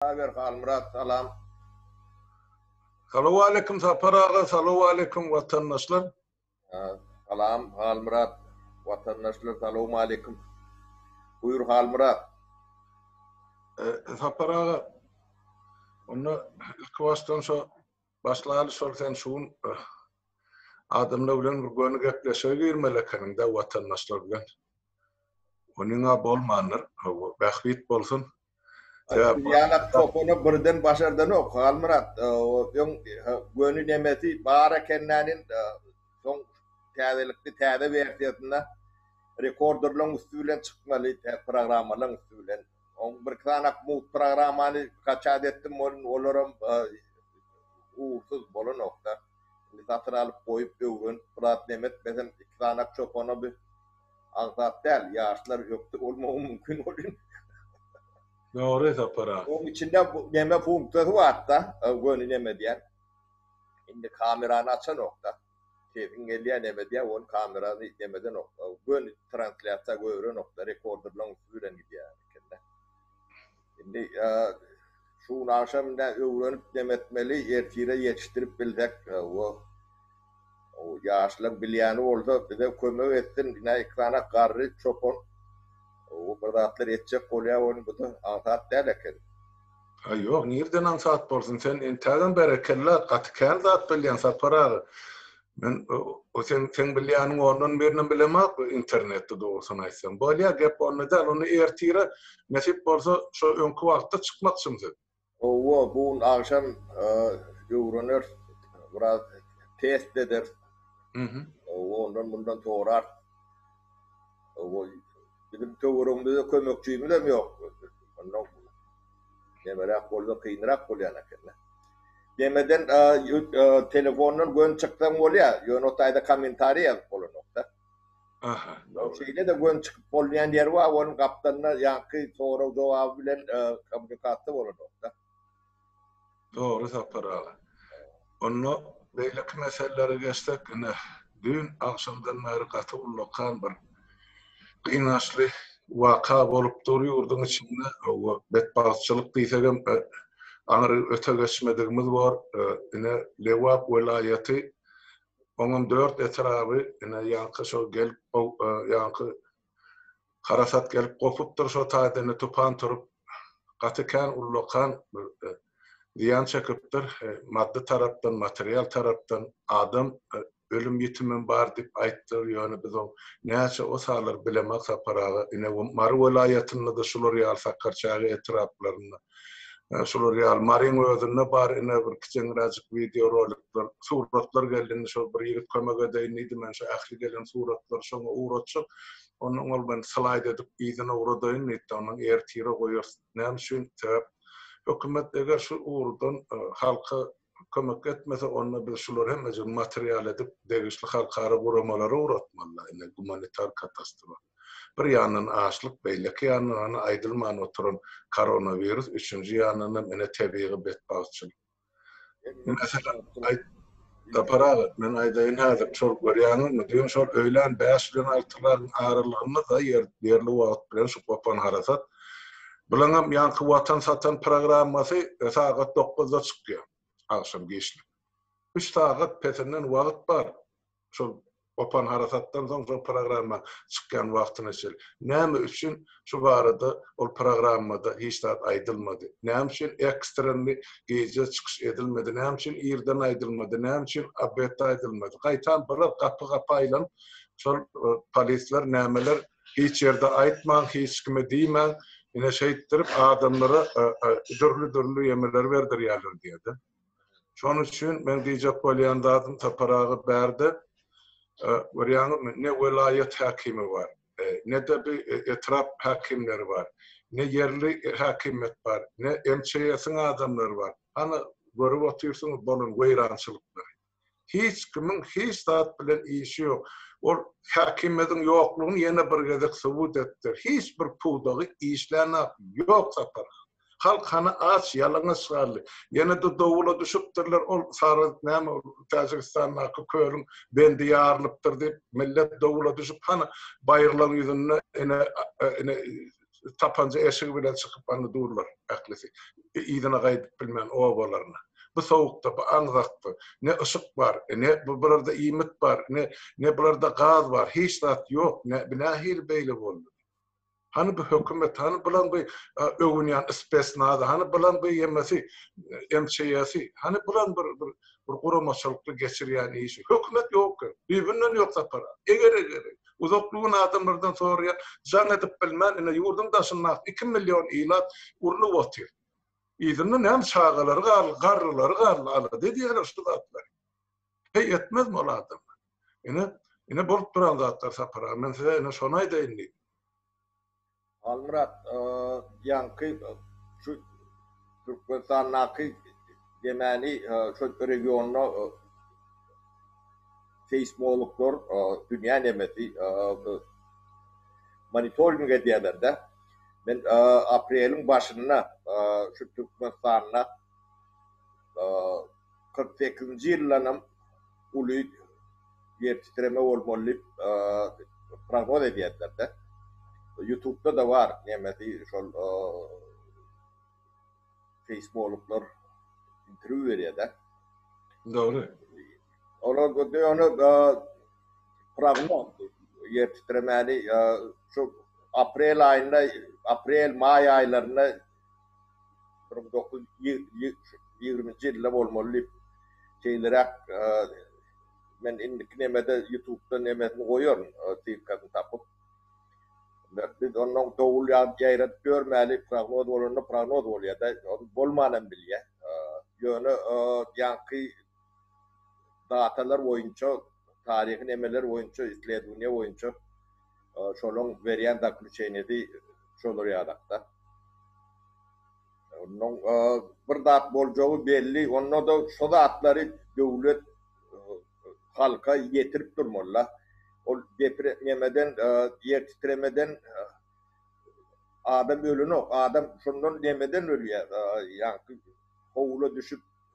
Saber Halmyrat salam. Salowaleýkim Sapar aga salowaleýkim watandaşlar. Salam Halmyrat watandaşlar salowmaleýkim. Buýur Halmyrat. Sapar aga onda ilki başdan şo başlaýaly şol sen şu gün adamlar bilen bir göni gepleşige girmeli ekeniňdä watandaşlar bilen. Onyňa bolmandyr. Bähbit bolsun. Ýalak topana birden başardanok, Halmyrat. Öň göni nemesi bar ekendänin, soň täzelikli täze wersiýasynda rekorderlaryň üsti bilen çykmaly, programmalaryň üsti bilen. Oň birki sanak mut programmany kaçat etdim welin olaram ugursyz bolanok-da. Indi satyn alyp goýup öwrenip biraz nemetmesem iki sanak çopana bir Az zat däl, ýaşlar ökde bolmagy mümkin welin. Dogry Sapar aga. Oň içinde neme funksiýasy barda, göni neme diýen. Indi kamerany açanokda. Sesiň gelýä neme diýä, ony kamerany neme edenok. Göni translýasiýa görenokda, rekorderlaň üsti bilen gidýä. Indi şu gün agşam ine öwrenip nem etmeli, ertire ýetişdirip bilsek we ýaşlar bilýäni bolsa bize kömek etsin. Ine ekrana garry çopan bir zatlar etjek bolýar we bu da aňsat däl eken. Haý ýok nirden aňsat bolsun sen entägem berekella gaty kän zat bilýäň Sapar aga. Men o sen sen bilýäniň ondan birine bilemok internetde dogrusyny aýtsam. Bolýar gep onda däl, ony ertire nesip bolsa şo öňki wagtda çykmakçym siz. Howwa bu gün agşam öwreneris biraz test ederis. Howwa ondan mundan sorars. Howwa biziň töweregimizde kömekçimizem ýok. Neberäk bolsa kynrak bolýan ekeni. Demeden telefondan gön çyksaň bolýa, ýöne o taýda kommentariý ýazyp bolanokda. Aha. Şeýle-de gön çykyp bolýan ýeri bar, onuň gapdalynda ýaňky sorag-jogaby bilen kommunikasiýa bolanokda. Dogry Sapar aga. Onda beýleki meselelere geçsek, ine, düýn agşamdan bäri gaty ullakan bir gynançly waka bolup dur ýurduň içinde. Hawa, betbagtçylyk diýsegem aňry öte geçmedigimiz bor. Ine, Lebap welaýaty, oňam dört etraby, ine, ýaňky şol gelip, ýaňky Harasat gelip gopupdyr şo taýdan-da tupan turup, gaty kän ullakan bir zyýan çekipdir, maddy tarapdan, material tarapdan, adam ölüm-ýitimem bar diýip aýtdylar, ýöne biz oň näçe osalar bilemak Sapar aga, ine, Mary welaýatynda-da şular ýaly Sakarçäge etraplarynda Şular ýaly Maryň özünde bar ine bir kiçeňräjik wideo rolikler. Suratlar geldi indi şol bir ýigit kömek edeýin diýdi. Men şu ähli gelen suratlary şoňa ugratjak. Ondan ol meni slaýd edip yzyna ugradaýyn diýdi-de, ondan ertire goýarys. Näme üçin? Sebäp hökümet eger şu ugurdan halka kömek etmese onda biz şulary hemmejigini material edip degişli halkara guramalara ugratmalyda indi gumanitar katastrofa bir ýandan açlyk beýleki ýandan hany aýdylman oturan koronawirus üçünji ýandanam ine tebigy betbagtçylyk Sapar aga, men aýdaýyn häzir, şol görýäňizmi, düýn şol öýlän bäş bilen altylaryň aralygynda-da ýer, ýerli wagt bilen şu gopan harasat Bulaňam ýaňky Watan satan programmasy sagat dokuzda çykýar, agşam giçlik. Üç sagat pesinden wagt bar, şol gopan harasatdan soň şol programma çykýan wagtyna çenli. Näme üçin şu barada ol programmada hiç zat aýdylmady? Näme üçin ekstrenli gije çykyş edilmedi? Näme üçin irden aýdylmady? Näme üçin obedde aýdylmady? Gaýtam birok gapy-gapy aýlanyp, şol polisler nämeler Hiç ýerde aýtmaň, hiç kime diýmäň, ine şeýtdirip adamlara dürli-dürli ýemeleri berdirýärler diýýärdi. Şonuň üçin meň diýjek bolýan zadym Sapar aga bärde görýäňizmi ne welaýat häkimi bar, ne-de bi etrap häkimleri bar, ne ýerli häkimiýet bar, ne MÇS-iň adamlary bar. Hany görüp otyrsyňyz bolan weýrançylyklary. Hiç kimiň hiç zat bilen işi ýok. Ol häkimiýetiň ýoklugyny ýene bir gezek subut etdi. Hiç bir pudagy işlänok. Ýok Sapar han. Halk hany aç, ýalaňaç galdy. Ýene-de dowula düşüpdirler, ol sary näme ol Täjigistandaky kölüň bendi ýarylypdyr diýip, millet dowula düşüp hany baýyrlaň ýüzünde ene ene tapanja eşigi bilen çykyp anna durlar ählisi. Yzyna gaýdyp bilmän obalaryna. Bu sowukda, bu aňzakda ne yşyk bar, ne bularda iýmit bar, ne, ne bularda gaz bar, hiç zat ýok, ne, bi nähili beýle boldy? Hany bu hökümet, hany bulan bu öwünýän spesnazy, hany bulan bu ýemesi, MÇYS-i, hany bulan bir, bir, bir guramaçylykly geçirýän işi? Hökümet ýok-a, düýbünden ýok Sapar aga. Eger-eger-eg. Uzaklygy adamlardan soraýan, jaň edip bilmän, ine, ýurduň daşyndaky iki million ilat urnup otyr. Yzynda näme çagalary galdy, garrylary galdy, alada edýärler şu zatlary. Heý, etmezmi ol adamlar? Ine, ine bolup duran zatlar Sapar aga, men size ine şony aýdaýyn diýdim. Halmyrat ýaňky şu Türkmenistandaky demani şu regionda seýsmologlar dünýä nemesi monitoring edýärler-de. Men apreliň başynda şu Türkmenistanda kyrk sekizinji ýyldanam uly ýer titreme bolmaly diýip prognoz edýärler-de. Ýutubda-da bar nemesi şol seýsmologlar interwýu berýär-de. Dogry. Olar göni prognoz ýer titremäni şu aprel aýynda, aprel-maý aýlarynda bir müň dokuz ýüz ýigriminji ýylda bolmaly diýip şeýleräk men indiki nemede ýutubda nemesini goýaryn ssylkasyny tapyp biz onnoň dowul ýazyp ýaýradyp ýörmäli prognoz bolanda prognoz bolýada bolman hem bilýä ýöne ýaňky datalar boýunça, taryhy nemeler boýunça, isledowaniýa boýunça şolaň berýän zakljuçeniýesi şolar ýalakda. Onnoň bir zat boljagy belli, onda-da şo zatlary döwlet halka ýetirip durmaly-la. Ol depre, nemeden, ýertitremeden adam ölenok, adam şondan nemeden ölýär, ýaňky howula düşüp,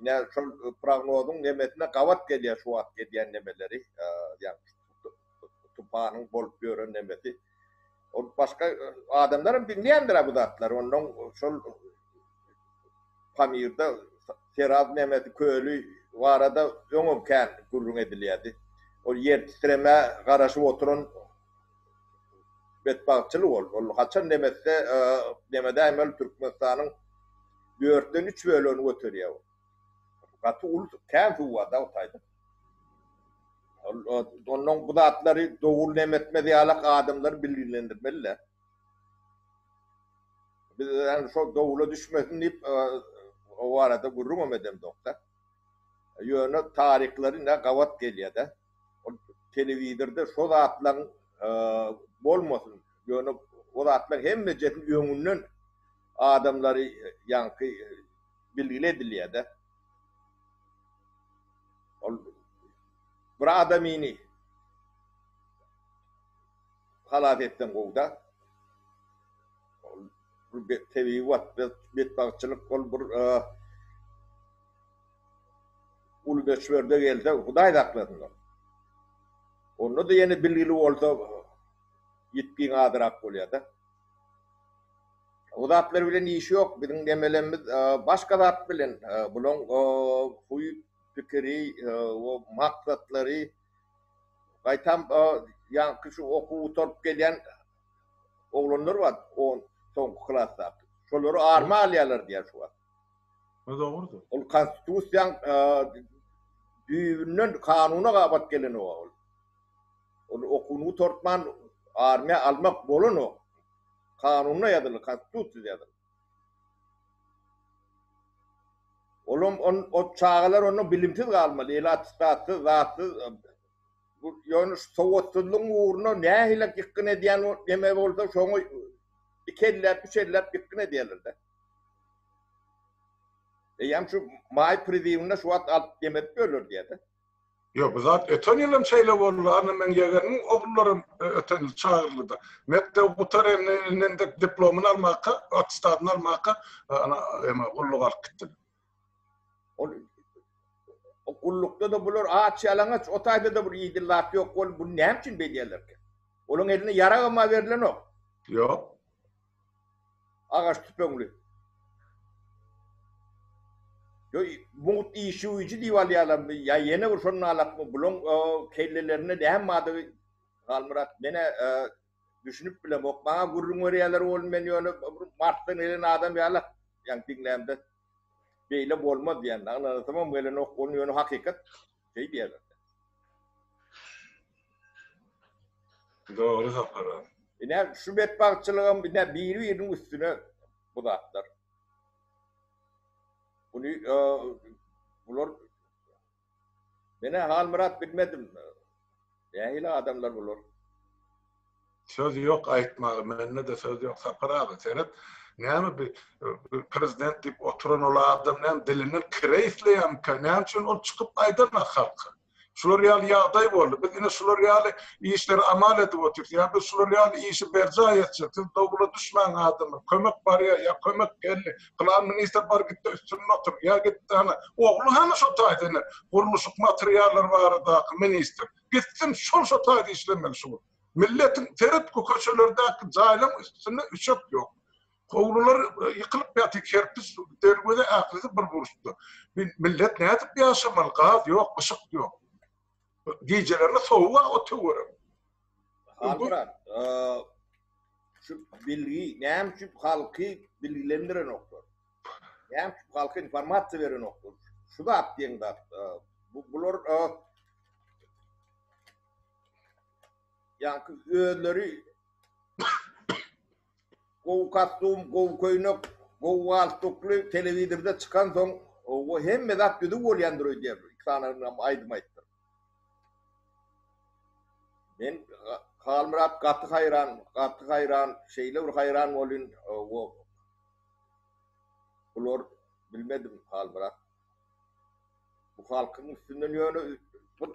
Ine şol prognozyň nemesine gabat gelýär şu wagt edýän nemeleri, ýagny tupanyň bolup ýören nemesi. Ol başga adamlar hem diňleýändir bu zatlary. Ondan şol Pamirde Seraz nemesi köli barada öňem kän gürrüň edilýärdi. Ol ýer titremä garaşyp oturan betbagtçylyk ol. Ol haçan nemesde, nemedäýmeli Türkmenistanyň dörtden üç bölegini göterýär bu. Gaty uly kän suw bar-da bu taýda. Ondan bu zatlary dogry näme etmez ýalak adamlary bilgilendirmeli-de. Biz ýöne şol dowula düşmesin diýip o barada gürrüňem edemzok-da. Ýöne taryhlary ine gabat gelýär-de. Ol telewizorda şo zatlaryň bolmasyn, ýöne o zatlaryň hemmejesini öňünden adamlary ýaňky bilgili edilýär-de. Ol bir adamyny halas etseň gowy-da. Ol bir tebigy betbagtçylyk, ol bir. Uly möçberde gelse Hudaý saklasynlar. Onda-da ýene bilgili bolsa ýitgiň azrak bolýar-da. O zatlar bilen işi ýok. Biziň demelenimiz başga zat bilen. Bulaň huýy, pikiri, maksatlary gaýtam ýaňky şu okuw gutaryp gelýän oglanlar bar, on, soňky klasdaky. Şolar arma alýarlar diýýär şu wagt. Bu dogrudyr. Ol konstitusiýaň düýbünden kanuna gabat gelenok ol. Ol okuwyny gutartman armiýa almak bolanok. Kanunda ýazylyp, konstitusiýada ýazylyp. Olam o çagalar onda bilimsiz galmaly, eli attestatsyz, zatsyz. Bu ýöne şu sowatsyzlygyň ugruna nähili ýykgyn edýän neme bolsa şoňa iki elläp, üç elläp ýykgyn edýärler-de. Eýýäm şu maý priziwinde şu wagt alyp gemedik öler diýede. Ýok bu zat öten ýyl hem şeýle boldy anna meň ýegenimiň ogullaram öten ýyl çagyryldyda mekdebi gutaran indi diplomyny almaka attestadyny almaka ana ema gulluga alyp gitdiler. Ol gullukda-da bular aç-ýalaňaç, o taýda-da bir iýjil zat ýok bolup, buny näme üçin beýdýärlerkä? Olaryň eline ýaragam-a berilenok. Ýok. Agaç tüpeňli. Ýo, mugt işewüji diýip alýarlarmy ýa ýene bir şondan alakmy, bularyň kellelerinde näme bardygy, Halmyrat, men-ä Düşünip bilemok. Maňa gürrüň berýärler oglum men ýöne bir Marsdan gelen adam ýaly ýaňy diňlämde beýle bolmaz diýýän. Aňlanasamam gelenok oglum ýöne hakykat şeý diýýärler. Dogry Sapar aga. Ine şu betbagtçylygam ine biri biriniň üstüne bu zatlar. Buny bular Men-ä Halmyrat bilmedim. Nähili adamlar bular? Söz ýok aýtmaga mende-de söz ýok Sapar aga seret näme bi prezident diýip oturan ol adam näme dilinden kire isleýärmika näme üçin ol çykyp aýdanok halka şular ýaly ýagdaý boldy biz ine şular ýaly işleri amal edip otyrys ýa biz şular ýaly işi berjaý etjek siz dowla düşmäň adamlar kömek barýar ýa kömek geldi Pylan ministr bar gitde üstünde otur, ýa gitde hany, ogly hany şo taýda ine, gurluşyk materiallary baradaky ministr, gitsin şol şo taýda işlemeli şugun. Milletiň, seret bu köçelerdäki jaýlaň üstünde üçek ýok. Howlular ýykylyp ýatyr, kerpiç, derweze ählisi bir burçda. Millet nädip ýaşamaly, gaz ýok, yşyk ýok. Gijelerine sowuk ha o töwere. Halburan, şu bilgi näme üçin halky bilgilendirenoklar? Näme üçin halka informasiýa berenoklar? Şu zat diýen zat. Bu bular ýa özleri Gowy kostum, gowy köýnek, gowy galstukly telewizorda çykansoň, o hemme zat düzüw bolýandyr öýdýär. Iki sany ynham aýdym aýtdyr. Men Halmyrat gaty haýran, gaty haýran, şeýle bir haýran bolýn, o bular bilmedim Halmyrat. Bu halkyň üstünden ýöne bir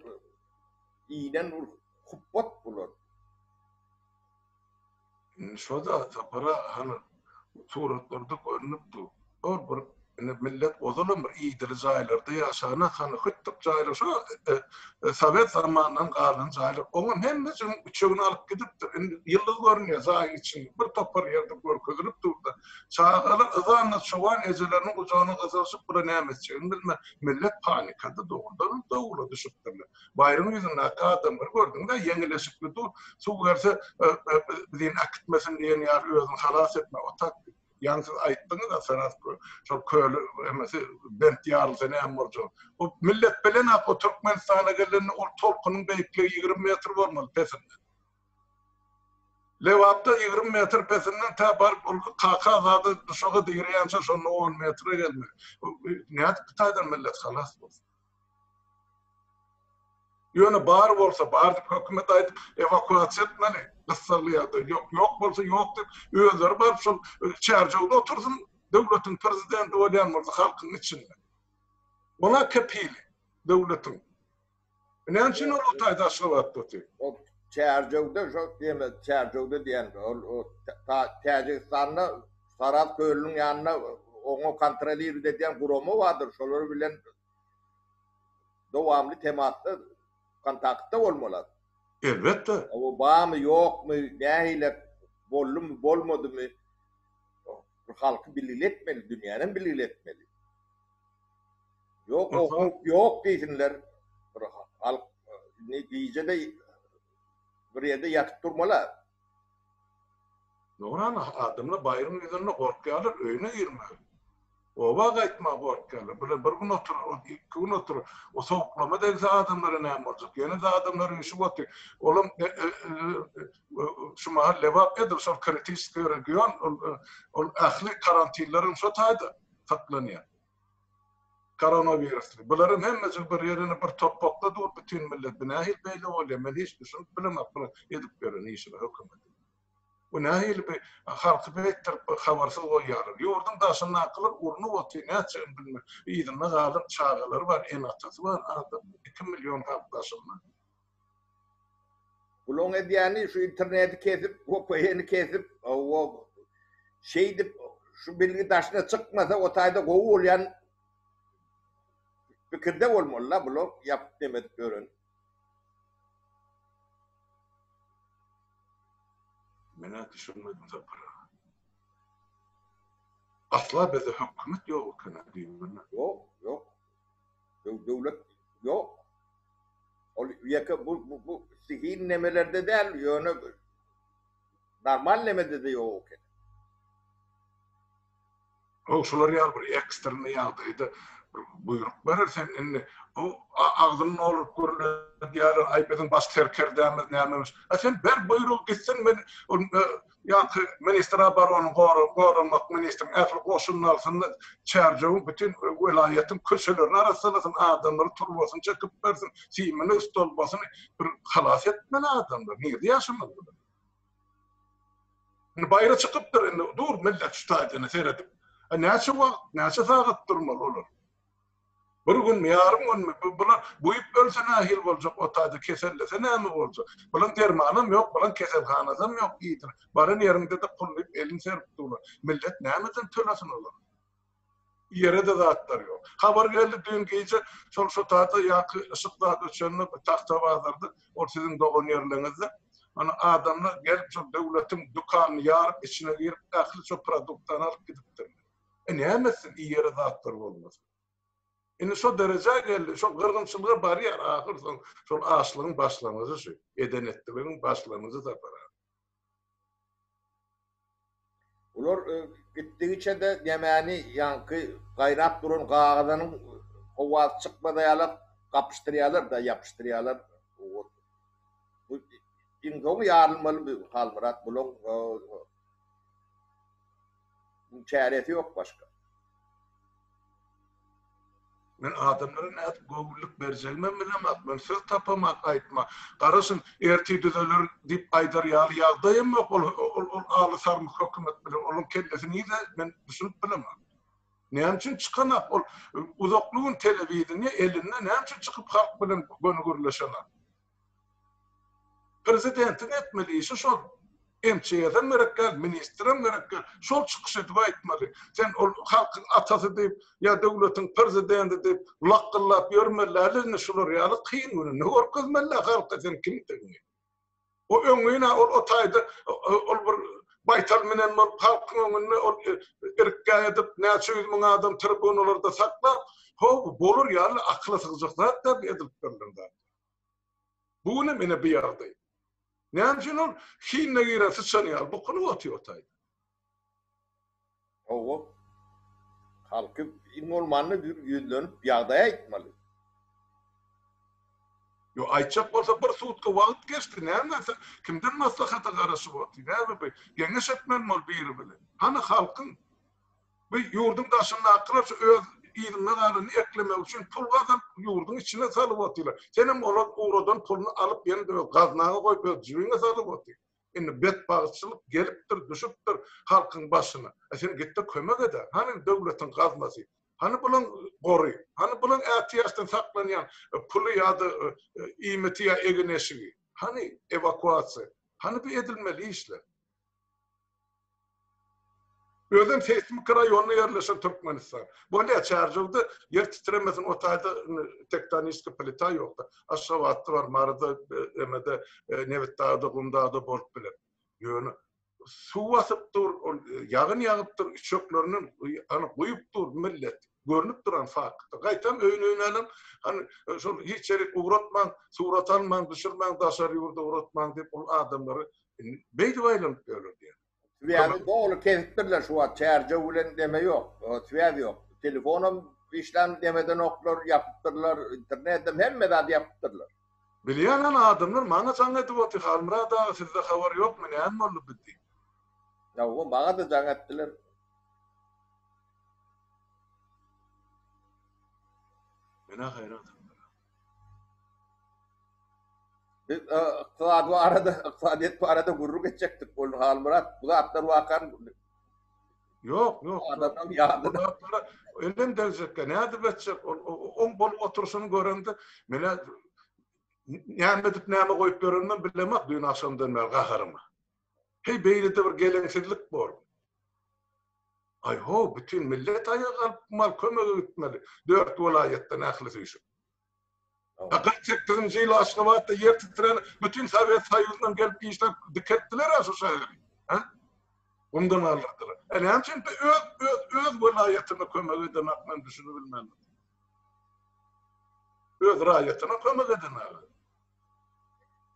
inen bir hupbat bular. Indi şo-da Sapara hany suratlarda görnüp dur. Ol bir indi millet ozalam bir idili jaýlarda ýaşana hany hütdük jaýlar şo sowet zamanyndan galan jaýlar oňam hemmejigin üçegini alyp gidipdir. Indi ýyldyz görünýär jaýyň içinde. Bir topar ýerde görkezilip dur-da. Çagalar yzanna çoban ejeleriniň gujagyna gyjaryşyp bula näme etjegini bilmän millet panikada dogrudanam dowla düşüpdirler. Baýryň ýüzündäki adamlary gördüň-dä, ýeňilleşikli dur, suw gelse, biziň äkitmesin diýen ýaly özüňi halas etme, otak diýip. Ýaňy siz aýtdyňyz-a, Sarahs köli, şol köli emesi bent ýarylsa näme boljagyny. Bu millet bilenok, o Türkmenistana gelende ol tolkunyň beýikligi ýigrimi metr bolmaly pesinden. Lebapda ýigrimi metr pesinden tä baryp ol Kaka Azada duşaga direýänçä şonda on metre gelmeli. Bu nädip bu taýdan millet halas bolsun? Ýöne bar bolsa bar diýip hökümet aýdyp ewakuasiýa etmeli gyssagly ýagdaý ýok ýok bolsa ýok diýip özleri baryp şol çärjewde otursyn döwletiň prezidenti bolýan bolsa halkyň içinde ola kepili döwletiň näme üçin ol o taýda aşgabatda otyr. Ol çärjewde şo diýme çärjewde diýen ol o täjigistanda Sarahs kölüniň ýanynda oňa kontrolirit edýän gurama bardyr, şolar bilen dowamly temasda, kontaktda bolmalyat. Elbetde. Oba barmy, ýokmy, nähile, boldumy, bolmadymy, halky bilgili etmeli, dünýänem bilgili etmeli. Ýok, o howp ýok diýsinler, bir halk indi gije-de bir ýerde ýatyp durmalyat. Dogramy, adamlar baýryň ýüzünde gorkýarlar öýüne girmäge. Oba gaýtmaga gorkýarlar. Bile bir gün oturar, ol iki gün oturar. O sowuklama degse adamlara näme boljak? Ýene-de adamlaryň işi goty. Olam şu mahal Lebap edil şol kritiskiý region, ol ähli karantinleriň şo taýda saklanýar. Koronowirusly. Bularam hemmejik bir ýerine bir topakda dur bütin millet bu nähili beýle bolýa men hiç düşünip bilemok bu edip ýören işine hökümetiň. Bu nähili bir halky beýtdirip bir habarsyz goýýalar. Ýurdyň daşyndakylar urnup otyr nätjegini bilmän. Yzynda galan çagalary bar ene atasy bar adamyň iki million halk daşynda. Bulaň edýäni şu interneti kesip vpn kesip şeýdip şu bilgi daşyna çykmasa o taýda gowy bolýan pikirde bolmalyda bular ýapyp neme edip ýören. Menä düşünmedim sapara. Asla bizde hökümet ýok ekeni diýip bilmek. Ýok ýok. Döwlet ýok. Ol ýeke bu bu sihin nemelerde däl, ýöne normal nemede-de ýok eken. Haw, şular ýaly bir ekstreniý ýagdaýda bir buýruk berer sen indi o agzyny nolup gürledýär, aý biziň baş serkerdämiz nämemiş. A sen ber buýrugy gitsin men Ýa-da ministr obarony goramak ministriniň ähli goşunyny alsyn-da, Çärjewiň bütin welaýatyň köçelerini arassalasyn, adamlara turbasyny çekip bersin, simini, stolbasyny bir halas etmeli adamlar. Nirede ýaşamaly bular? Indi baýra çykypdyr, indi dur millet şu taýdan seredip. Näçe wagt, näçe sagat durmaly olar? Bir günmi, ýarym günmi, bu, bula, buýup ölse nähili boljak, o taýda kesellese näme boljak? Bulaň dermanam ýok, bulaň keselhanasam ýok diýdiler. Baran ýeriňde-de pul diýip elini serip durlar. Millet nämeden tölesin olara? Ýere-de zatlar ýok. Habar geldi, düýn gije şol şu taýda ýaňky yşyk zat öçende bir Tagtabazarda, ol siziň dogan ýerleriňizde, ana, adamlar gelip şol döwletiň dükanyny ýaryp, içine girip, ähli şu produktany alyp gidipdirler. E näme etsin iýere zatlar bolmasa. Indi şo derejä geldi, şo gyrgynçylyga barýar ahyr soň şol açlygyň başlangyjy şu, eden etdiligiň başlangyjy Sapar aga. Bular gitdigiçe-de nämäni ýaňky gaýrap duran gagazanyň howasy çykmaza ýala gapyşdyrýarlar-da ýapyşdyrýarlar. Bu iň soňy ýarylmaly Halmyrat bulaň. Muň çäresi ýok başga. Men adamlara nädip göwünlik berjegimem bilemak, men söz tapamak aýtma. Garaşyň, ertir düzeler diýip aýdar ýaly ýagdaýam ýok ol ol aly sarmyk hökümet bilen onuň kellesi nirde men düşünip bilemak. Näme üçin çykanak ol uzakly gün telewideniýe elinde näme üçin çykyp halk bilen göni gürleşenak. Prezidentiň etmeli işi şol. MÇS-em gerek däl, ministrem gerek däl. Şol çykyş edip aýtmaly. Sen ol halkyň atasy diýip ýa döwletiň prezidenti diýip lakgyllap ýörmeli-ä indi şular ýaly kyn gününde görkezmeli-ä halka sen kimdigiňi. O öňňin-ä ol o taýda ol bir baýtal minen bolup halkyň öňünde ol irkgä edip näçe ýüz müň adam tribunalarda saklap, ho bu bolar ýaly akyla sygjak zat däl bu edilip berlen zatlar. Bu günem ene bu ýagdaý. Näme üçin ol hinine giren syçan ýaly bukulyp otyr taýda? Hawa. Halky iň bolmanda bir ýüzlenip ýagdaý aýtmaly. Ýok, aýtjak bolsa bir sutka wagt geçdi, näme sen kimden maslahata garaşyp otyr, näme bir geňeş etmeli biri bilen. Hany halkyň. Bu ýurduň daşyndakylar şu öz yzynda galany eklemek üçin pul gazyp ýurduň içine salyp otylar. Senem olar ugradan puluny alyp ýene de öz gaznaňa goýup öz jibiňe salyp otyr. Indi betbagtçylyk gelipdir düşüpdir halkyň başyna. A sen gitde kömek edä. Hany döwletiň gaznasy. Hany bulan gory. Hany bulan ätiýaçdan saklanýan puly ýa-da iýmiti ýa egin-eşigi. Hany ewakuasiýa. Hany bu edilmeli işler. Özem seýsmiki raýonda ýerleşen Türkmenistan. Bu ne çärjewdi ýer titremesin o taýda tektoniski plita ýokda. Aşgabatda bar Maryda emede Nebitdagda Gumdagda bolup biler. Ýöne suw basyp dur ol ýagyn ýagyp dur üçeklerinden ana guýup dur millet görnüp duran fakt. Gaýtam öýün öýnänem hany şol hiç ýerik ugratmaň surat almaň düşürmäň daşary ýurda ugratmaň diýip ol adamlary Beýdip aýlanyp ýörler diýýär. Swýazy doly kesipdirler şu wagt, çärjew bilen deme ýok, swýaz ýok. Telefonam işlän demedenoklar, ýapypdyrlar, internedem, hemme zady ýapypdyrlar. Bilýän hany adamlar maňa jaň edip otyr, Halmyrat aga sizde habar ýokmy, näme boldy bu diýip. Hawa, maňa-da jaň etdiler. Men-ä haýran. Biz e, ykdysady barada, ykdysadyýet barada gürrüň geçjekdik. Ol Halmyrat bu zatlar wakan Ýok, ýok. Adamdan ýadyna. Adamlara ölen deljekkä nädip etjek? Ol on bolup oturşyny görende, mene näme edip näme goýup ýörenimi bilemok düýn agşamdan bäri gaharymy. Heý beýlede bir geleňsizlik bor. Aý ho bütin millet aýaga galyp mal kömege gitmeli. Dört welaýatdan ählisi üýşüp. A kyrk sekizinji ýyl Aşgabatda ýer titrän bütin Sowet Soýuzyndan gelip işläp dikeltdiler a şu şäheri. Gumdan galdyrdylar. A näme üçin öz öz öz welaýatyna kömek eden ak men düşünibilmändim. Öz raýatyna kömek eden aga.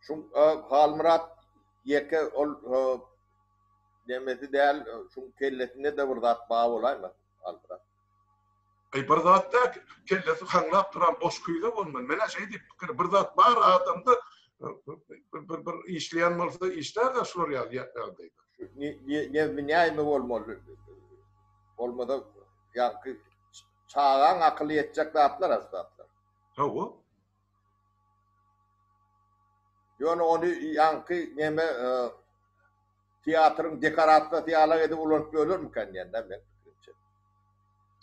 Şu Halmyrat ýeke ol nemesi däl, şuň kellesinde-de bir zat bar bolaýma, Halmyrat. Eý, bir zat däl, kellesi haňlap duran boş küýze bolmaly. Men-ä şeý diýip pikir, bir zat bar adamda, bir işleýän bolsa işlär-de şular ýaly ýagdaýda. Nebsi näme bolmaly? Bolmasa ýaňky çagaň akyly ýetjek zatlar-a şu zatlar. Hawa. Ýöne ony ýaňky neme teatryň dekorasiýasy ýala edip ulanyp ýörlermikä diýýän-dä men pikrimçe.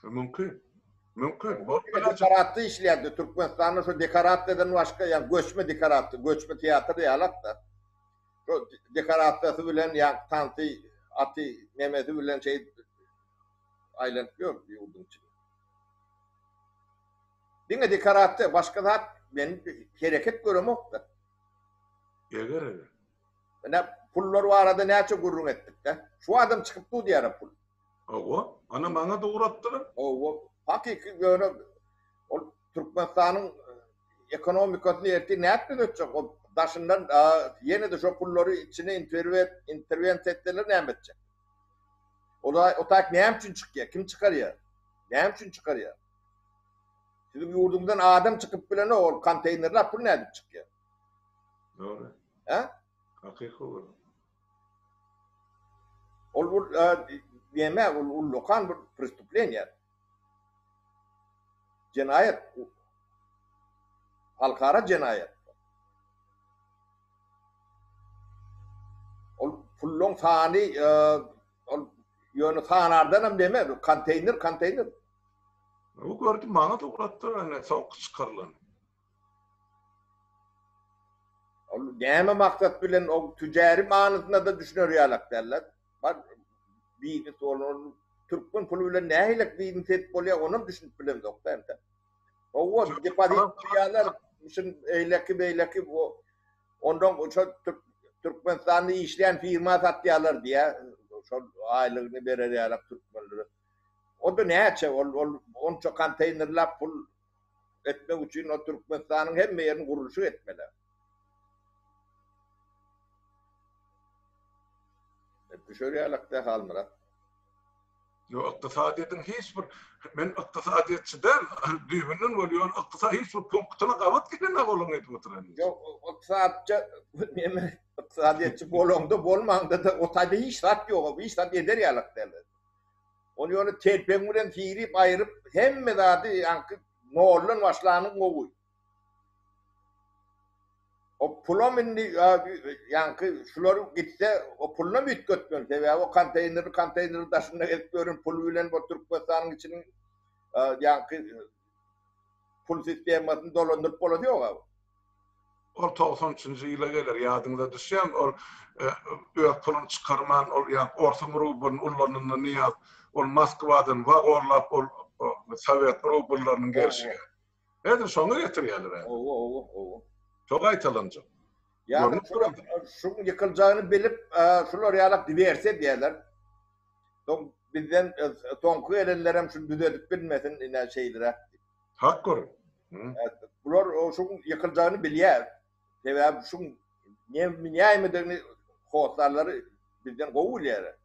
Mümkin. Mümkin. Bolup biler. Dekorasiýa işleýärdi. Türkmenistanda şu dekorasiýadan başga, ýa göçme dekorasiýa, göçme teatr ýalak-da. Şo dekorasiýasy bilen ýaňky tansy, aty, nemesi bilen şeýdip aýlanyp ýördi ýurduň içinde. Diňe dekorasiýa, başga zat men hereket göremokda. Eger eger. Ine pullar barada näçe gürrüň etdikde. Şu adam çykyp dur diýara pul. Hawa, ana maňada ugrapdylar. Hawa, hakyky ýöne ol Türkmenistanyň ekonomikasyny ertir nädip düzetjek? Ol daşyndan ýene-de şo pullary içine interwensiýa etseler näme etjek? Olar o taýyk näme üçin çykýar? Kim çykarýar? Näme üçin çykarýar? Siziň ýurduňdan adam çykyp bilenok, ol konteýnerlap pul nädip çykýar? Dogry. Hä? Hakyky ol. Ol bu näme ol ullakan bir prestuplenýa. Jenaýat. Halkara jenaýat. Ol pulluň sany ol ýöne sanardan hem deme, konteýner, konteýner. Bu gördi maňa da ulatdy ene sowuk çykarylany. Ol näme maksat bilen o tüjäri manysyna da düşüner ýalak däller. Bar biznes bolan türkmen puly bilen nähilek biznes edip bolýar onam düşünip bilemzok da entek. Owa depozit diýýärler şun eýleki beýleki bu ondan şol Türkmenistanda işleýän firma satýarlar diýýär. Şol aýlygyny berer ýalak türkmenlere. Onda näçe ol ol onça konteýnerläp pul etmek üçin o Türkmenistanyň hemme ýerini gurluşyk etmeli. Düşerýälekdä Halmyrat. Ýok, ykdysadyýetiň hiç bir men ykdysadyýetçi däl, düýbünden bolýan ykdysady hiç bir punktyna gabat gelenok olaň edip oturan. Ýok, ykdysadyýetçi neme ykdysadyýetçi bolaňda bolmaňda-da o taýda hiç zat ýok, hiç zat eder ýalak däldir. Ony ýöne telpegiň bilen syrýyp aýryp hemme zady ýaňky noldan başlanyň gowy. O pulam indi ýaňky şular gitse o pulunam üýtgetmen sebäbi o konteýneri konteýneri daşynda gezip ýören pul bilen bu Türkmenistanyň içiniň ýaňky Pul sistemasyny dolandyryp bolany ýog-a bu. Ol togsan üçünji ýyla geler, ýadyňyza düşýärmi, ol öz puluny çykarman, ol ýa-da orsuň rublyny ullananda Nyýaz, ol Moskwadan wagorlap ol sowet rubllarynyň gelşi. Häzir şoňa getirýärler häzir. Hawa, hawa, hawa. Şo gaýtalanjak. Ýa-da şu ýykyljagyny bilip, şular ýalak diwersiýa edýärler. Soň bizden soňky gelenlerem şuny düzedip bilmesin, ine şeýleräk. Hakdyr. Bular şu ýykyljagyny bilýär. Sebäbi şu nämedigini hossarlary bizden gowy bilýär.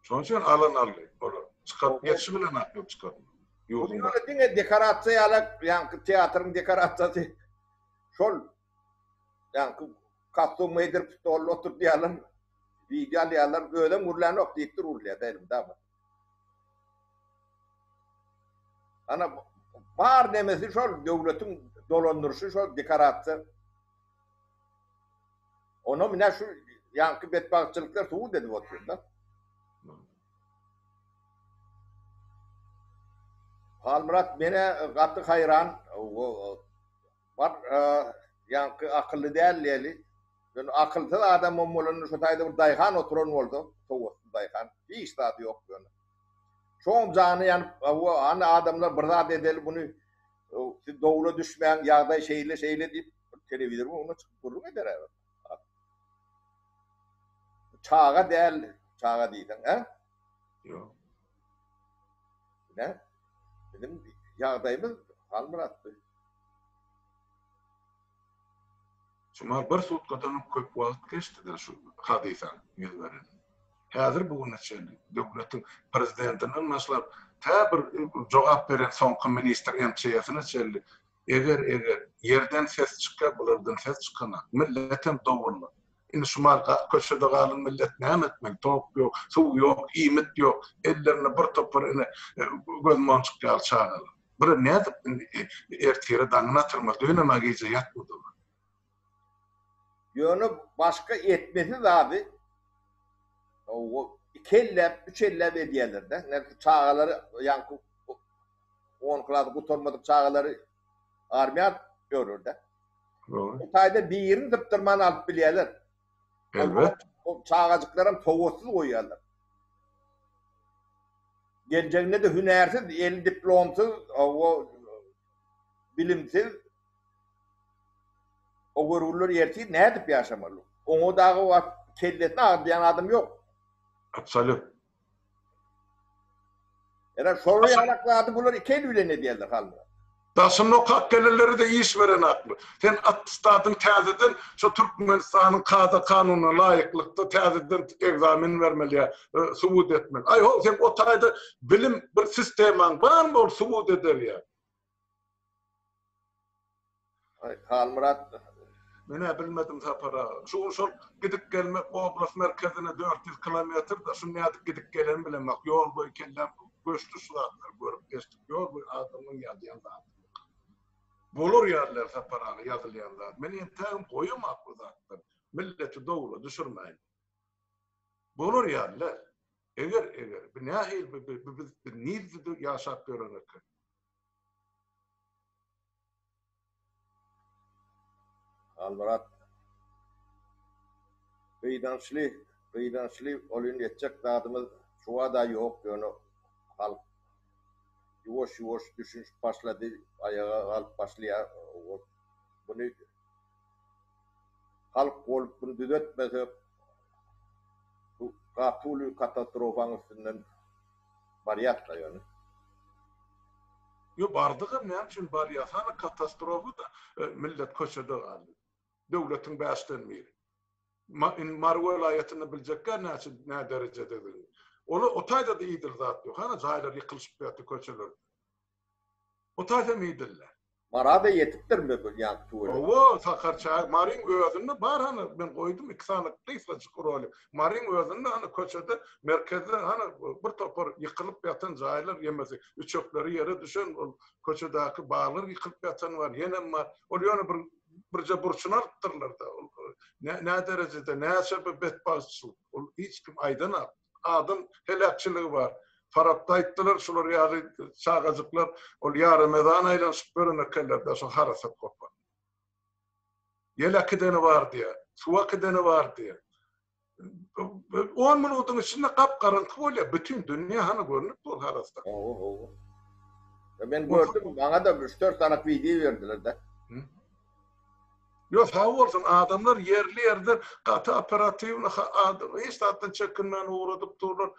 Şonuň üçin alan aldy olar. Çykaryp geçişi bilen aklap çykardylar. Ýurduň başyna. Diňe dekorasiýa ýalak, ýaňky teatryň dekorasiýasy. şol ýaňky kostum geýdirip stolda oturyp ýalan wideo alýarlar özem gürlänok diýipdir urulýada elimde bar. Ana bar nemesi şol döwletiň dolandyryşy şol dekorasiýa. Ona mine şu ýaňky betbagtçylyklar subut edip oturýar da. Halmyrat menä gaty haýran bar ýaňky akylly däl diýeli ýöne akylsyz adamam bolanda şo taýda bir daýhan oturan bolsa sowatsyz daýhan hiç zady ýok ýöne şoňam jany ýanyp hawa hany adamlar bir zat edeli muny siz dowla düşmäň ýagdaý şeýle şeýle diýip telewizorymyň öňüne çykyp gürrüň ederä bir. Çaga däl, çaga diýseň, hä? Ýok. Nä? Biziň ýagdaýymyz Halmyrat bi. Şumal bir sutkadan köp wagt geçdi-de şu hadysa ýüz beren. Häzir bu güne çenli döwletiň prezidentinden başlap, tä bir jogap beren soňky ministr MÇS-ne çenli Eger eger ýerden ses çykýa bulardan ses çykanak milletem dowully indi şu mal gap köçede galan millet näme etmeli tok ýok suw ýok iýmit ýok ellerinde bir topar ine göz monjuk ýaly çagalar bura nädip indi ertire daňyny atarmaly dönemä gije ýatmady olar. Ýöne başga etmesi zady iki elläp, üç elläp edýärler-de. Ine, şu çagalary, ýaňky on klasy gutarmadyk çagalary armiýa ýörür-de. Bir taýdan birini sypdyrman alyp bilýärler. Elbet. Ol çagajyklaram sowatsyz goýýarlar. Geljeginde-de hünärsiz, eli diplomsyz, hawa, bilimsiz. O görgüliler ertir nädip ýaşamaly? Oňa dagy wagt kellesini agyrdaýan adam ýok. Absolýut. Ene şol ýalak zady bular iki eli bilen edýärler Halmyrat. Daşyny okap gelenleri-de iş berenakmy? Sen atestadyň täzeden şu Türkmenistanyň kada-kanunyna laýyklykda täzeden ekzamen bermeli ýa subut etmeli. Aý ho, seň o taýda bilim bir sistemaň barmy ol subut eder ýa? Halmyrat. Menä bilmedim Sapar aga. Şu şol gidip gelmek oblast merkezine dört ýüz kilometr-de, şu nädip gidip geleni bilemok. Ýol boýy kelläm göçdi şu zatlary görüp geçdik. Ýol boýy adamyň ýazýan zady ýok. Bolar ýaly Sapar aga ýazylýan zat. Men entägem goýamak bu zatlary. Milleti dowla düşürmäýin. Bolar ýaly däl. Eger, eger, bu nähili bu biz nirde ýaşap ýören eken. Halmyrat gyýdançly gyýdançly ol indi etjek zadymyz şubada ýok ýöne halk ýuwaş ýuwaş düşünşip başlady aýaga galyp başlaýar buny halk bolup bunu düzetmesek, bu gaty uly katastrofanyň üstünden barýas-da ýöne. Ýok, bardygam näme üçin barýas? Hany katastrofa-da, millet köçede galdy. Döwletiň bäşden biri. Indi Mary welaýatynda biljekkä näçe, nä derejededigini. Olar o taýda-da idil zat ýok. Hany jaýlar ýykylyşyp ýatyr köçeler. Gutarsam eýdilla. Marada ýetipdir möbil ýan tüweleme. Hawa, Sakar çaýy Maryň özünde bar hany, men goýdum iki sany gysgajyk rolik. Maryň özünde hany köçede, merkezde hany bir topar ýykylyp ýatan jaýlar ýemesi, üçekleri ýere düşen ol köçedäki baglar ýykylyp ýatany bar, ýenem bar. Ol ýöne bir birje burçuny alypdyrlar-da. Ol näderejede, näçe bir betbagtçylyk, ol hiç kim aýdanok. adam heläkçiligi bar. Farapda aýtdylar, şular ýaly çagajyklar ol ýaramezana aýlanyşyp gören ekenler-dä şo harasat gopan. Ýel äkideni bar diýýär, suw äkideni bar diýýär. On minudyň içinde gap-garaňky bolýar, bütin dünýä hany görnüpdi ol harasat. Hawa, hawa. Men gördüm, maňa-da üç-dört sanak wideo berdiler-de. Ýo sag bolsun adamlar ýerli ýerden gaty operatiwny hiç zatdan çekinmän ugradyp durlar.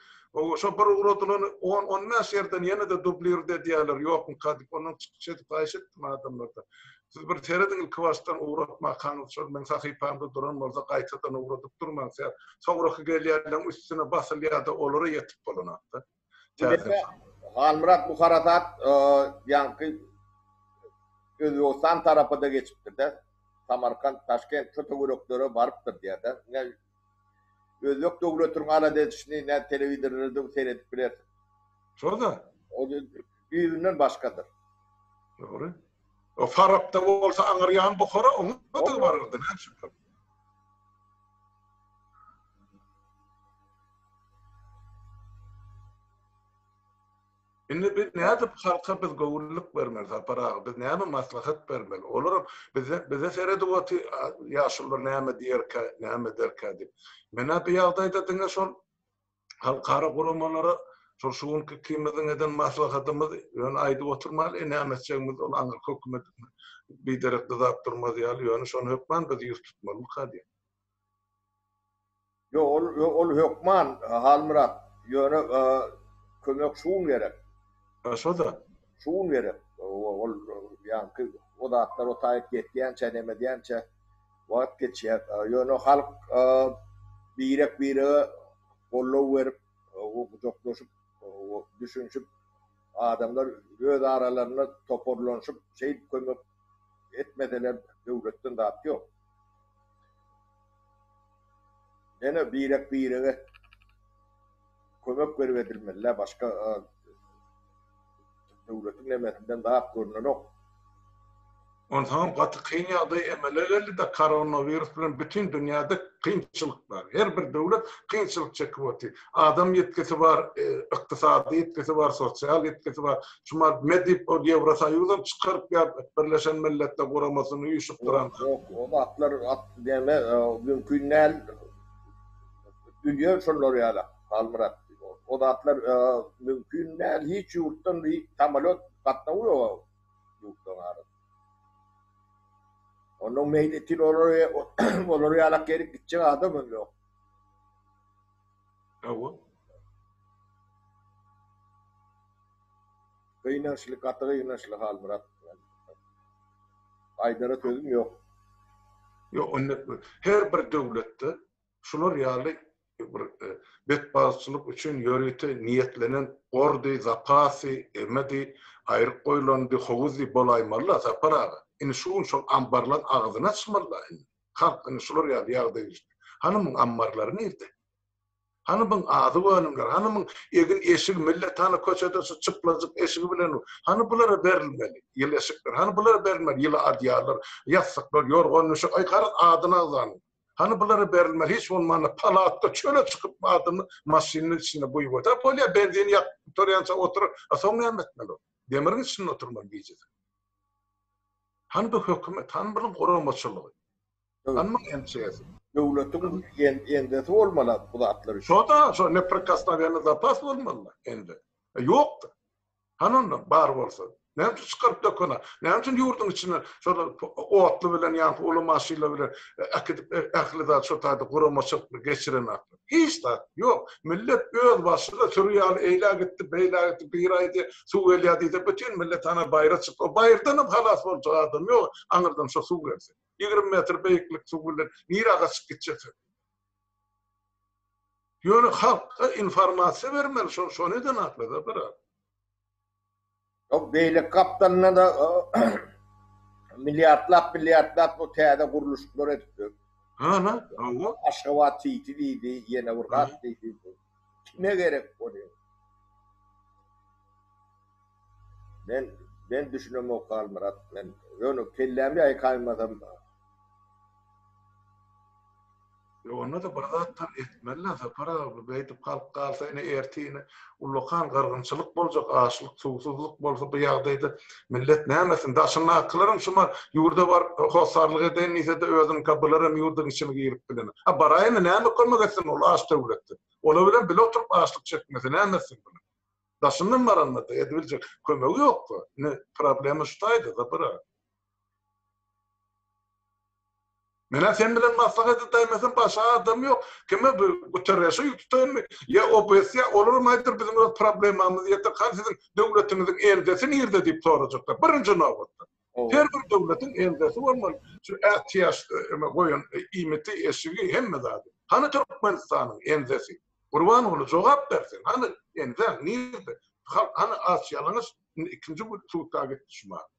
Şo bir ugradylany on on bäş ýerden ýene-de dublirt edýäler ýokmyka diýip ondan çykyş edip haýyş etdim adamlardan. Siz bir serediň ilkibaşdan ugratmakaňyz şol meň sahypamda duran bolsa gaýtadan ugradyp durmaň soňraky gelýänleriň üstüne basylýada olara ýetip bolanakda. Täsir. Halmyrat bu harasat ýaňky Özbegistan tarapa-da geçipdir-dä. Samarkant, Taşkent şo töwereklere barypdyr diýýär-dä. Ine, özbek döwletiniň alada edişini nädip telewizorlardan seredip bilersiň. Şo-da. O düýbünden başgadyr. Dogry. O Farapda bolsa aňyrýan Buhara oňa-da barardy, näme şübhe. Indi biz nädip halka biz göwünlik bermeli Sapar aga biz näme maslahat bermeli olaram bize bize seredip otyr ýaşulylar näme diýerkä näme ederkä diýip menä bu ýagdaýda diňe şol halkara guramalara şol şu günki ikimiziň eden maslahatymyz ýöne aýdyp oturmaly näme etjegimiz ol aňyrky hökümet biderek dyzap durmaz ýaly ýöne şony hökman biz ýüz tutmalymyka diýip. Ýok, ol, ol hökman, Halmyrat. Ýöne, kömek şu gün gerek. A, şo zat. Şu gün gerek. Ol, ýaňky o zatlar o taýyp ýetýänçä, nämedýänçä wagt geçýär. Ýöne halk birek-birege goldaw berip, gujaklaşyp, düşünişip, adamlar öz aralarynda toparlanyşyp, şeýdip kömek etmeseler, döwletden zat ýok. Ene birek birege kömek berip edilmelilä başka döwletiň nemesinden zat görnenok. Onsaňam gaty kyn ýagdaý emele geldida koronawirus bilen bütin dünýäde kynçylyk bar her bir döwlet kynçylyk çekip otyr Adam ýetgisi bar, ykdysady ýetgisi bar, sosial ýetgisi bar. Şu Mark Medip ol Ýewrosoýuzam çykaryp ýa Birleşen Milletler Guramasyny uýşukdyran zat. Ýok, o zatlar näme mümkin däl. Dünýe şolar ýaly Halmyrat. O zatlar mümkin däl. Hiç ýurtdan hiç samolýot gatnawy ýok o ýurtlaryň arasynda. Onda meýletin olar ýala gelip gitjek adamam ýok. Gynançly gaty gynançly Halmyrat aýdara sözüm ýok. Ýok indi her bir döwletde şular ýaly bir betbagtçylyk üçin ýörite niýetlenen gordy, zapasy, emedi, aýryk goýlandy, howuzdy bolaýmaly-la Sapar aga. Indi şu gün şol ambarlaň agzyny açmaly-la indi. Halk indi şular ýaly ýagdaýa düşdi. Hany muň ammarlary nirde? Hany muň azyk önümleri? Hany muň egin-eşigi? Millet hany köçede şu çyplajyk eşigi bilen? Hany bulara berilmeli ýyly eşikler? Hany bulara berilmeli ýyly adýallar, ýassyklar, ýorgan-düşek? Aý, garaz, adyny agzan. Hany bulara berilmeli, hiç bolmanda, palatda, çöle çykyp, adyny maşynyň içinde guýup otyr. Bolýar, benzini ýakyp gutarýança otyr. A soň näme etmeli ol? Demiriň içinde oturma gijesi. Han bu hökümet, han bir guramaçylygy. Hanmyň ençesi. Döwletiň endesi bolmaly bu zatlar üçin. Şo-da, şo neprikosnowenny zapas bolmaly endi. Ýokdy. Han onda bar bolsa. Näme üçin çykaryp dökene? Näme üçin ýurduň içine şolar otly bilen ýa-da uly maşynlar bilen äkidip ähli zat şo taýda guramaçylykly geçirenok? Hiç zat. Ýok. Millet öz başyna süri ýaly eýlä gitdi, beýlä gitdi, biri aýdy, suw gelýär diýse, bütin millet ana baýra çykdy. O baýyrdanam halas boljak adam ýok, aňyrdan şo suw gelse. Ýigrimi metr beýiklik suw bilen nirä gaçyp gitjeksin? Ýöne halka informasiýa bermeli, şo-şo neden atly-da, brat? Ýok, beýleki gapdalynda-da milliardlap, milliardlap bu täze gurluşyklar edipdir. Hana, hawa. Aşgabat Siti diýdi, ýene bir zat diýdi. Kime gerek ony? Men, men düşünemok Halmyrat, men ýöne kellämi ýaýkaýmasam. Ýok, onda-da bir zatlar etmeli-dä, Sapar aga, bu beýdip galyp galsa, ine, ertire ullakan gyrgynçylyk boljak, açlyk, suwsuzlyk bolsa, bu ýagdaýda millet näme etsin? Daşyndakylaram şumy, ýurda baryp, hossarlyk edeýin diýse-de, özüniňka bularem ýurduň içine girip bilenok. A baraýyny, näme kömek etsin ol aç döwletde? Olar bilen bile oturyp açlyk çekmese, näme etsin bular? Daşyndan baranda-da edibiljek kömegi ýok-da. Ine, problema şu taýda, Sapar aga. Menä sen bilen maslahat edäýmesem başga adam ýok. Kime bu Guterreşe ýüz tutaýynmy? Ýa OBS ýa olaram aýdyr biziň öz problemamyz ýeter. Hany siziň döwletiňiziň elgesi nirde diýip sorajaklar birinji nobatda. Her bir döwletiň elgesi bolmaly. Şu ätiýaç öme goýan iýmiti, eşigi hemme zady. Hany Türkmenistanyň elgesi? Gurbanguly jogap ber sen. Hany elgäň nirde? Halk hany aç ýalaňaç indi ikinji gün sudka gitdi şu many.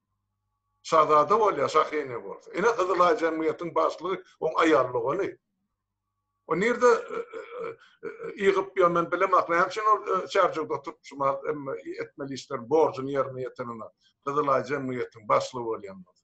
Şazada bolýar, şahyny bolsa. Ine, Gyzylaý jemgyýetiniň başlygy oň aýal dogany. O nirde ýygyp ýör, men bilemok. Näme üçin ol Çärjewde oturyp çumar, emma etmeli işlerini, borjuny ýerine ýetirene, Gyzylaý jemgyýetiniň başlygy bolýan bolsa.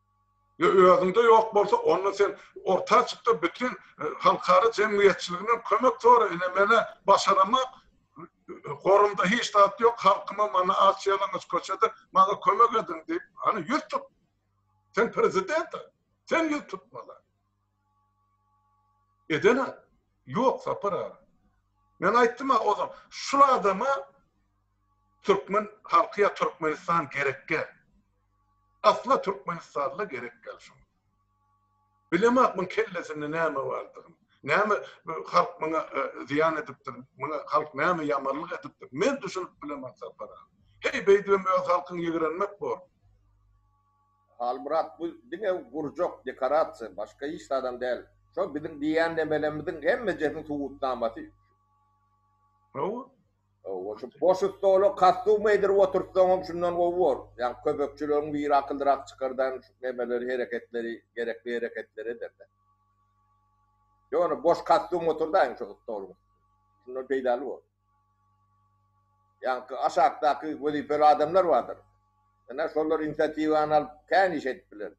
Ýa özüňde ýok bolsa, onda sen orta çyk-da, bütin halkara jemgyýetçiliginden kömek sora, ine, men-ä başaramak, gorumda hiç zat ýok, halkym-a mana aç-ýalaňaç köçede, maňa kömek ediň diýip, hany, ýüz tut! Sen prezident-ä, sen ýüz tutmaly. Edene yok Sapar aga. Men aýtdym-a ozal, şul adama türkmen halky ýa Türkmenistan gerekge. Asla Türkmenistanda gerek däl şuň. Bilemok muň kellesinde näme bardygyny. Näme halk muňa zyýan edipdir, muňa halk näme ýamanlyk edipdir. Men düşünip bilemok Sapar aga. Heý beýdibem öz halkyňy ýigrenmek bor. Halmyrat bu diňe gurjak dekorasiýa başga hiç zadam däl şo biziň diýýän nemelerimiziň hemmejesiniň subutnamasy Hawa. Hawa şu boş stola kostyum geýdirip oturtsaňam şundan gowy bor. Ýa kömekçileriň biri akyllyrak çykardan şu nemeleri hereketleri gerekli hereketleri ederdi. Ýone boş kostyum oturdaýyň şo stoluň üstünde. Şundan peýdaly bor. Ýaňky aşakdaky wezipeli adamlar bardyr. Ine, şolar inisiatiwany alyp, kän iş edip biler.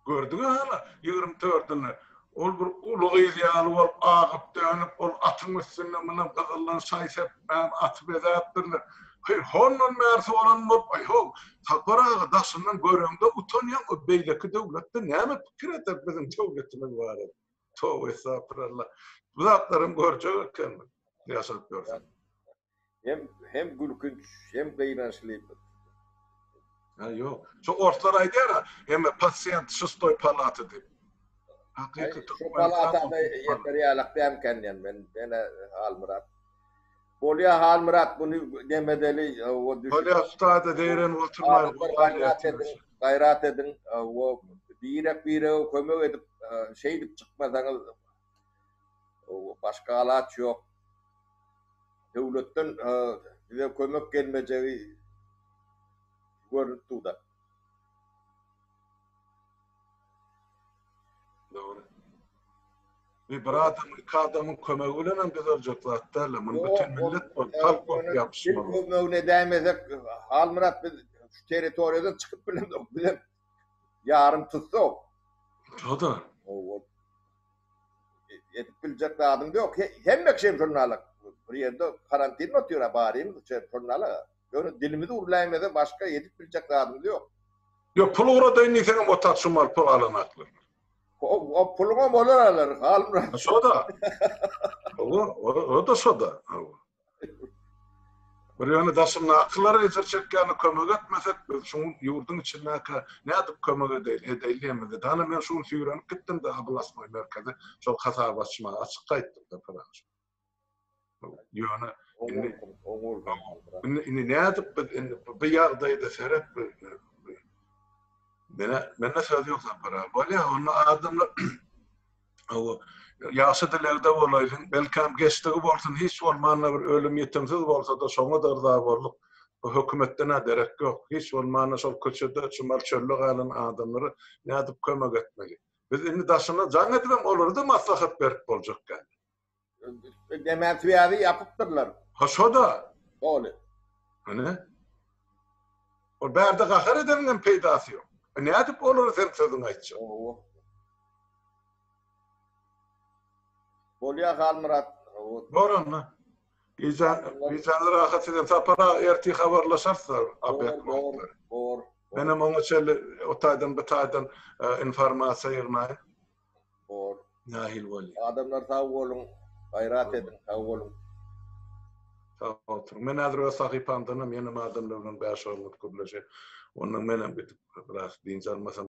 Gördüňiz hany, ýigrimi dördüni. Ol bir uly gyz ýaly bolup, agyp-dönüp, ol atyň üstünde muny gyzyldan şaý-sep Mäm aty bezäpdirler. Hyr, hondan bäri soran bolup, aý-how, Sapar aga, daşyndan göreňde utanýaň-a, beýleki döwletde näme pikir eder biziň döwletimiz barada? Toba estagfiralla. Bu zatlaram görjek ekenmiň, ýaşap ýörseň. Hem, hem gülkünç, hem gynançly. Ha yok. Şu ortlar aýdýar ha, hem pasient şustoy palaty diýip. Hakyky türkmen palatany ýeter ýalak dämken diýen men. Ene Halmyrat. Bolýa Halmyrat bunu demedeli o düşüp. Bolýa ustada deýren oturmaýar. Gaýrat edin, gaýrat edin. O birek birege kömek edip şeýdip çykmasaňyz Başga alaç ýok. Döwletden bize kömek gelmejegi görnüp dur-da. Dogry. Bir bir adam, iki adamyň kömegi bilen hem düzeljek zat däl-de. Muny bütin millet bolup, halk bolup ýapyşmaly. Kim kömegini edäýmesek, Halmyrat biz şu territoriýadan çykyp bilemzok. Bize Ýarym tussag. Şo-da. Ow-ow. Edip biljek zadyň-da ýok. Hemme kişi hem şony alar. Bir ýerde karantinli otyr-a, baryňyz içeri, şony alar-a. Ýöne dilimizi urlaýmasa, başga edip biljek zadymyz ýok. Ýok, pul ugradaýyn diýseňem, otag çumal pul alan aklar. Ow-ow, puluňam olar alar, Halmyrat. Şo-da. Ow-ow, o-da şo-da. Ow-ow. Bir ýöne daşyndakylar ejir çekýärler, kömek etmesek biz şu ýurduň içindäkä nädip kömek edeýin, edeýinlemizde. Dana men şu gün süýrenip gitdim-de ablastnoý merkeze, şol hasap açmaga, açyk gaýtdym-da pyragy. Ýöne indi indi indi nädip biz indi bu ýagdaýda seret bir mene mende söz ýok Sapar aga. Bolýa onda adamlar Hawa, ýagşy dilegde bolaýsyn, belkäm geçdigi bolsun, hiç bolmanda bir ölüm ýetimsiz bolsada şoňada yrza bolduk. Bu hökümetden-ä derek ýok. Hiç bolmanda şol köçede çumal çölde galan adamlara nädip kömek etmeli? Biz indi daşyna jaň edibem olara-da maslahat berip boljak däl. Demeswiýazy ýapypdyrlar. Ha şo-da. Doly. Hany? Ol bärde gahar edeniň hem peýdasy ýok. Nädip olara sen sözüňi aýtjak? Owo. Bolýa Halmyrat. Bor onda. Gije gijäni rahat edin. Sapar aga ertir habarlaşarys Abed wagtlary. Bor. Menem oňa çenli o taýdan bu taýdan informasiýa ýygnaýyn. bor. Nahil bolýa. Adamlar sag boluň gaýrat ediň sag boluň. Sag oturyň. Men häzir öz sahypamdanam ýene adamlar bilen bäş oglandyr gürleşe. Ondan menem gidip biraz dynç almasam.